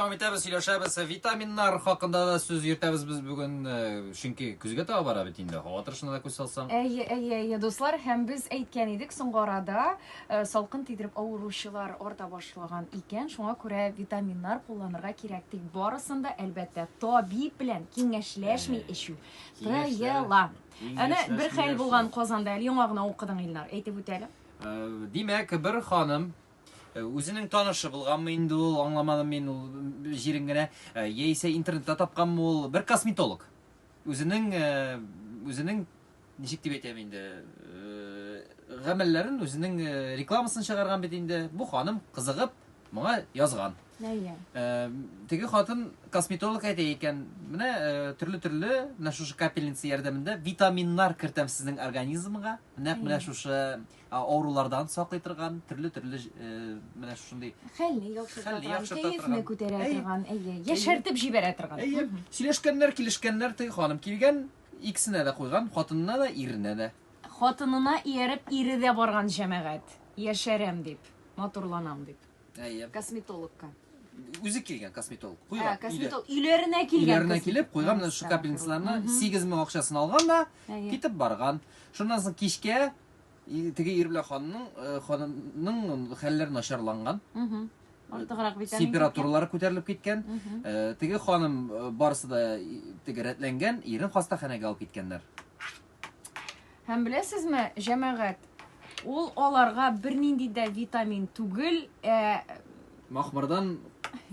Дәвам итәбез, сөйләшәбез. Витаминнар хакында да сүз йөртәбез без бүген, э, чөнки көзгә таба бара бит инде. Һава торышына да күз салсаң. Әйе, әйе, әйе, дуслар, һәм без әйткән идек, соңгы арада э, салкын тидереп авыручылар арта башлаган икән, шуңа күрә витаминнар кулланырга кирәк. Тик барысын да, әлбәттә, табиб белән киңәшләшми эчү тыела. Әнә бер хәл булган Казанда, әле яңа гына укыдың, Илнар, әйтеп үтәле. Э, Димәк, бер ханым Э, үзенең танышы булганмы инде ул, аңламадым мин ул җирен генә, э, яисә интернетта тапканмы ул, бер косметолог. Үзенең э, үзенең ничек дип әйтәм инде, гамәлләрен үзенең рекламасын чыгарган бит инде. Бу ханым кызыгып моңа язган. Әйе. Теге хатын косметолог әйтә икән, менә төрле-төрле менә шушы капельница ярдәмендә витаминнар кертәм сезнең организмга. Нәкъ менә шушы авырулардан саклый торган, төрле-төрле менә шушындый хәлне яхшырта торган, кәефне күтәрә торган, әйе, яшәртеп җибәрә торган. Әйе. Сөйләшкәннәр, килешкәннәр, теге ханым килгән, икесенә дә куйган, хатынына да, иренә дә. Хатынына ияреп, ире дә барган җәмәгать. Яшәрәм дип, матурланам дип. Әйе. Косметологка. Үзе килгән косметолог. Куйган. Косметолог өйләренә килгән. Өйләренә килеп, куйган менә шу капельницаларны 8000 акчасын алган да, китеп барган. Шуннан соң кичкә Теге ир белән ханның ханның хәлләре начарланган. Артыграк бит. Температуралары күтәрелеп киткән. Теге ханым барысы да теге рәтләнгән, ирен хастаханәгә алып киткәннәр. Һәм беләсезме, җәмәгать, ул аларга бернинди дә витамин түгел, ә Махмырдан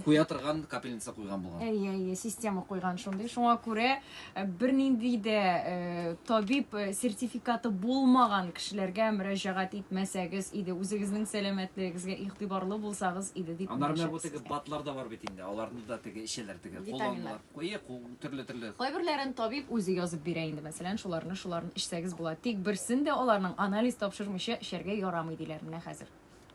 куя торган капельница куйган булган. Әйе, әйе, система куйган шундый. Шуңа күрә э, бернинди дә э, табиб э, сертификаты булмаган кешеләргә мөрәҗәгать итмәсәгез иде, үзегезнең сәламәтлегегезгә игътибарлы булсагыз иде дип. Аннары менә бу теге батлар да бар бит инде. Аларны да теге эчәләр теге. Витаминнар. Куе, төрле-төрле. Кайберләрен табиб үзе язып бирә инде, мәсәлән, шуларны, шуларны эчсәгез була. Тик берсен дә аларның анализ тапшырмыйча эчәргә ярамый диләр менә хәзер.